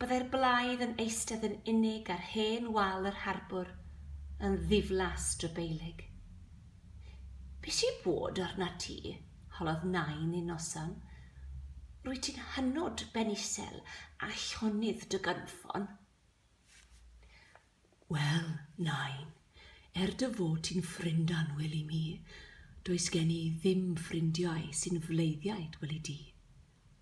Byddai'r blaidd yn eistedd yn unig ar hen wal yr harbwr, yn ddiflas drybeilig. Be sy bod arnat ti? holodd nain un noson. Rwyt ti'n hynod ben isel a llonydd dy gynffon. Wel, nain, er dy fod ti'n ffrind annwyl i mi, does gen i ddim ffrindiau sy'n fleiddiaid weli di,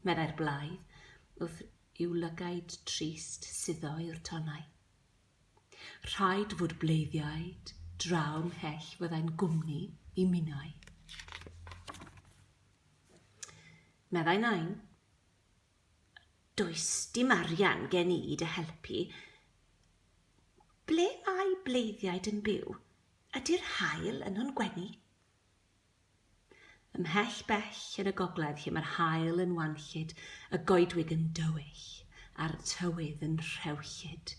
meddai'r blaidd wrth yw lygaid trist suddo i'r tonnau. Rhaid fod bleiddiaid draw mhell fyddai'n gwmni i minnau. Meddai Nain. Does dim arian gen i i dy helpu. Ble mae bleiddiaid yn byw? Ydy'r haul yno'n gwenu? Ymhell bell yn y gogledd lle mae'r haul yn wanllyd, y goedwig yn dywyll, a'r tywydd yn rhewllyd.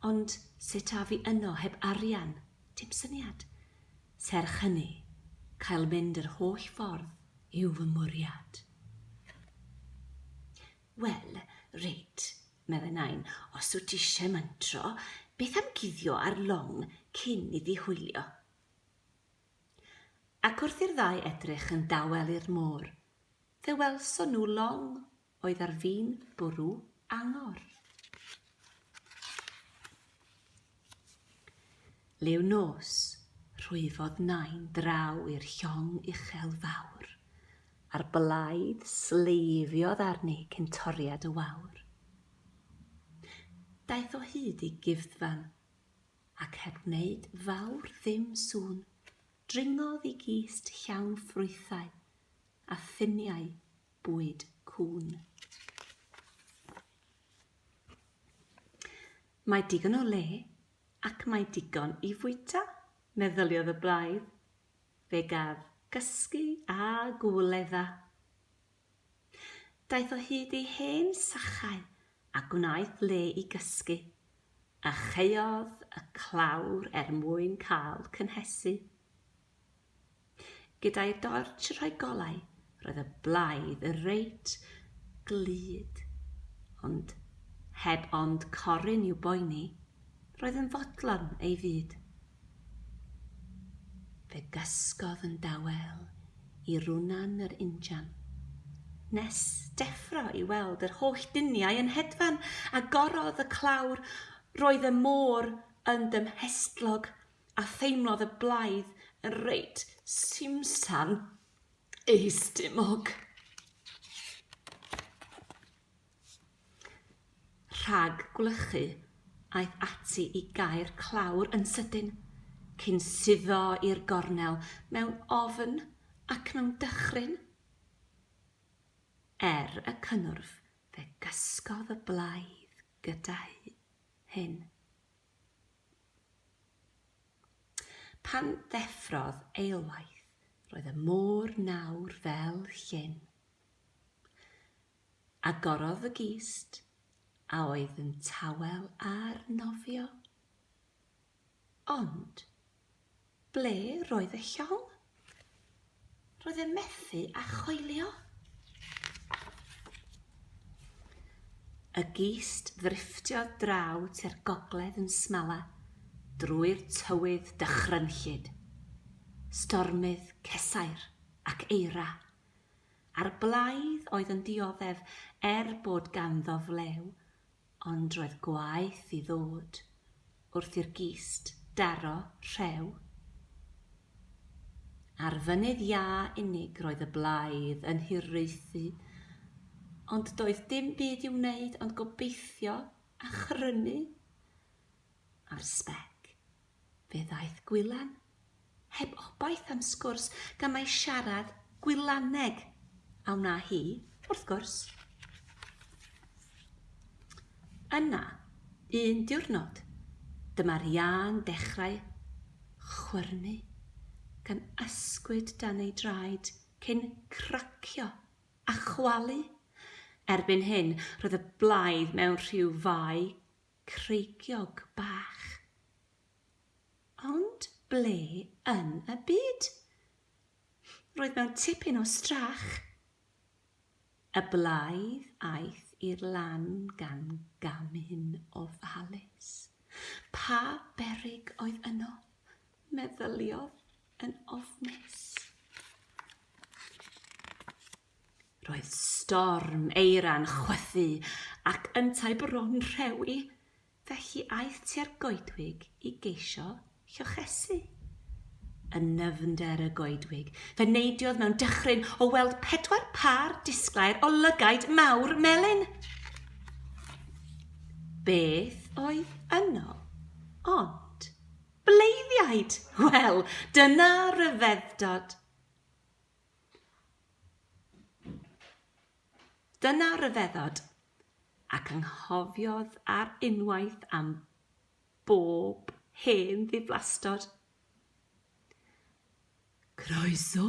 Ond sut af i yno heb arian? Dim syniad. Serch hynny, cael mynd yr holl ffordd yw fy mwriad. Wel, reit, meddai Nain, os wyt ti eisiau mantro, beth am guddio ar long cyn iddi hwylio? Ac wrth i'r ddau edrych yn dawel i'r môr, fe welson nhw long oedd ar fin bwrw angor. Liw nos, rhwyfodd Nain draw i'r llong uchel fawr, a'r blaidd sleifiodd arni cyn toriad y wawr. Daeth o hyd i guddfan, ac heb wneud fawr ddim sŵn, dringodd i gist llawn ffrwythau a ffiniau bwyd cŵn. Mae digon o le ac mae digon i fwyta, meddyliodd y blaidd. Fe gaf gysgu a gwledda. Daeth o hyd i hen sachau a gwnaeth le i gysgu, a chaeodd y clawr er mwyn cael cynhesu. Gyda'i dortsh rhoi golau, roedd y blaidd reit glyd, ond heb ond corun i'w boeni, roedd yn fodlon ei fyd. Fe gysgodd yn dawel i Runan yr injan, nes deffro i weld yr holl duniau yn hedfan, a gorodd y clawr. Roedd y môr yn dymhestlog, a theimlodd y blaidd yn reit simsan ei stumog. Rhag gwlychu, aeth ati i gau'r clawr yn sydyn, cyn suddo i'r gornel mewn ofn ac mewn dychryn. Er y cynnwrf, fe gysgodd y blaidd gyda hyn. Pan ddeffrodd eilwaith, roedd y môr nawr fel llyn. Agorodd y gist, a oedd yn tawel ar nofio. Ond, ble roedd y llong? Roedd e methu â choelio. Y gist ddrifftiodd draw tua'r gogledd yn smala drwy'r tywydd dychrynllyd. Stormydd, cesair, ac eira. a'r blaidd oedd yn dioddef er bod ganddo flew, ond roedd gwaeth i ddod wrth i'r gist daro rhew. Ar fynydd iâ unig roedd y blaidd yn hiraethu, ond doedd dim byd i'w wneud ond gobeithio a chrynu ar sbec. Fe ddaeth Gwylan, heb obaith am sgwrs, gan mai siarad Gwylaneg a wna hi, wrth gwrs. Yna, un diwrnod, dyma'r iâ'n dechrau chwyrnu, gan ysgwyd dan ei draed cyn cracio a chwalu. Erbyn hyn, roedd y blaidd mewn rhyw fai creigiog bach. Ond ble yn y byd? Roedd mewn tipyn o strach. Y blaidd aeth i'r lan gan gamu'n ofalus. Pa berig oedd yno? meddyliodd yn ofnus. Roedd storm eira'n chwythu ac yntau bron rhewi, felly aeth tua'r goedwig i geisio llochesu. Yn nyfnder y goedwig, fe neidiodd mewn dychryn o weld pedwar pâr disglair o lygaid mawr melyn. Beth oedd yno? Ond bleiddiaid! Wel, dyna ryfeddod! Dyna ryfeddod, ac anghofiodd ar unwaith am bob hen ddiflastod. Croeso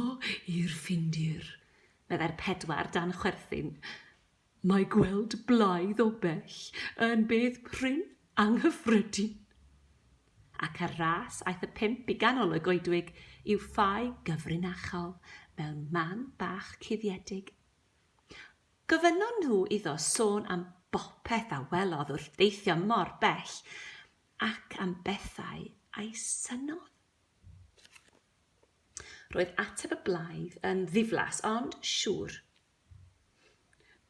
i'r Ffindir, meddai'r pedwar dan chwerthin. Mae gweld blaidd o bell yn beth prin anghyffredin. Ac ar ras aeth y pump i ganol y goedwig i'w ffau gyfrinachol mewn man bach cuddiedig. Gofynnon nhw iddo sôn am bopeth a welodd wrth deithio mor bell, ac am bethau a'i synnodd. Roedd ateb y blaidd yn ddiflas, ond siŵr.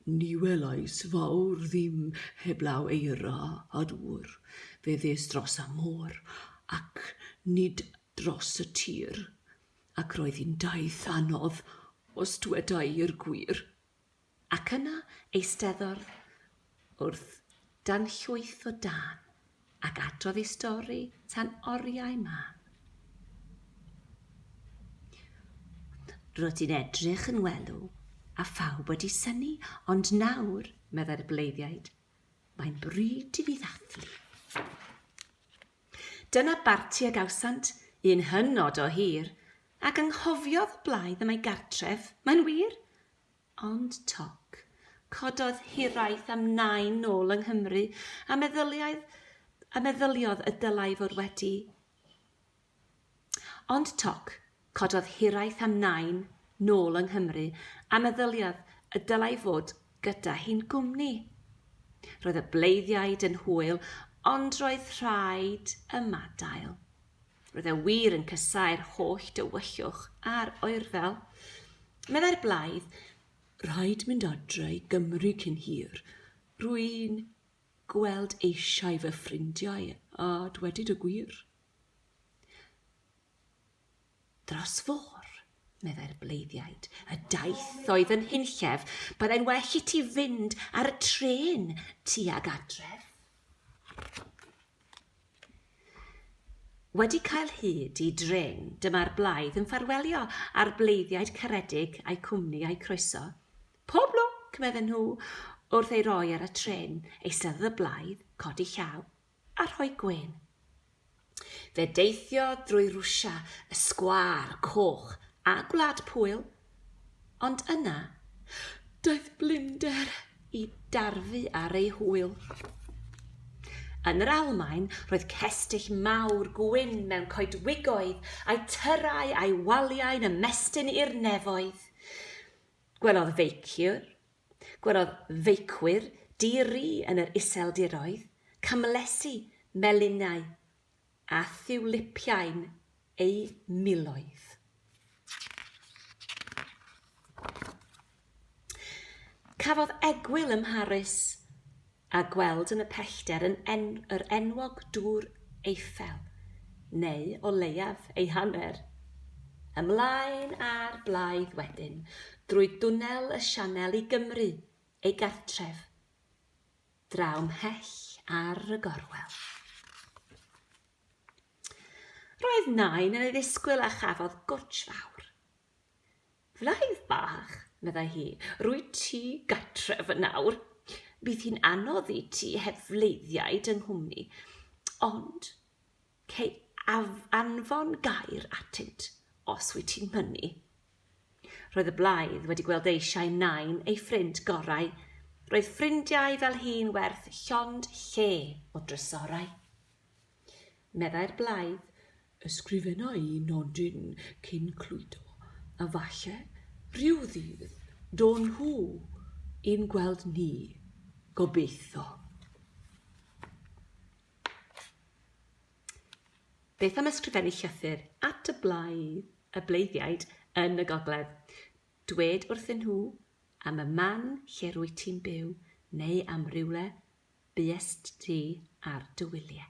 Ni welais fawr ddim heblaw eira a dŵr, fe ddes dros y môr ac nid dros y tir, ac roedd hi'n daith anodd os dweda i'r gwir. Ac yna eisteddodd Wrth danllwytho Dan ac adrodd ei stori tan oriau mân. Rydw i'n edrych yn welw a phawb wedi synnu, ond nawr, meddai'r bleiddiaid, mae'n bryd i fi ddathlu. Dyna barti a gawsant, un hynod o hir, ac anghofiodd blaidd y mae gartref, mae'n wir? Ond toc, cododd hiraeth am Nain nôl yng Nghymru a meddyliaedd, a meddyliodd y dylai fod wedi Ond toc, cododd hiraeth am Nain nôl yng Nghymru a meddyliodd y dylai fod gyda hi'n gwmni. Roedd y bleiddiaid yn hwyl, ond roedd rhaid ymadael. Roedd e wir yn casáu'r holl dywyllwch a'r oerfel. Meddai'r blaidd, Rhaid mynd adre i Gymru cyn hir. Rwy'n gweld eisiau fy ffrindiau, a dwedid y gwir. Dros fôr, meddai'r bleiddiaid, y daith oedd yn hunllef, byddai'n well i ti fynd ar y tren tuag adref. Wedi cael hyd i dren, dyma'r blaidd yn ffarwelio â'r bleiddiaid caredig a'u cwmni a'u croeso. Pob lwc, medden nhw, wrth ei roi ar y trên, eisteddodd y blaidd, codi llaw, a rhoi gwên. Fe deithiodd drwy Rwsia, y sgwâr, coch, a Gwlad Pwyl, Ond yna, daeth blinder i darfu ar ei hwyl. Yn yr Almaen, roedd cestyll mawr gwyn mewn coedwigoedd a'i tyrrau a'i waliau'n ymestyn i'r nefoedd. Gwelodd feiciwr, gwelodd feicwyr di-ri yn yr iseldiroedd, camlesi, melinau, a thiwlipiau'n eu miloedd. Cafodd egwyl ym Mharis a gweld yn y pellter yn en yr enwog dŵr Eiffel, neu o leiaf ei hanner. Ymlaen â'r blaidd wedyn drwy dwnnel y Sianel i Gymru, ei gartref. draw mhell ar y gorwel. Roedd nain yn ei ddisgwyl a chafodd gwtsh fawr. Flaidd bach, meddai hi, rwy ti gatref yn nawr. Bydd hi'n anodd i ti heb fleiddiaid yng nghwmni, ond Cei anfon gair atynt, os wyt ti'n mynnu. Roedd y blaidd wedi gweld eisiau Nain, ei ffrind gorau. Roedd ffrindiau fel hi'n werth llond lle o drysorau. Meddai'r blaidd, Ysgrifenna i nodyn cyn cludo, a falle, rhyw ddydd, do'n nhw i'n gweld ni, gobeitho. Beth am ysgrifennu llythyr at y blaid, y bleiddiaid yn y gogledd? Dwed wrthyn nhw am y man lle rwyt ti'n byw neu am rywle buest ti ar dy wyliau.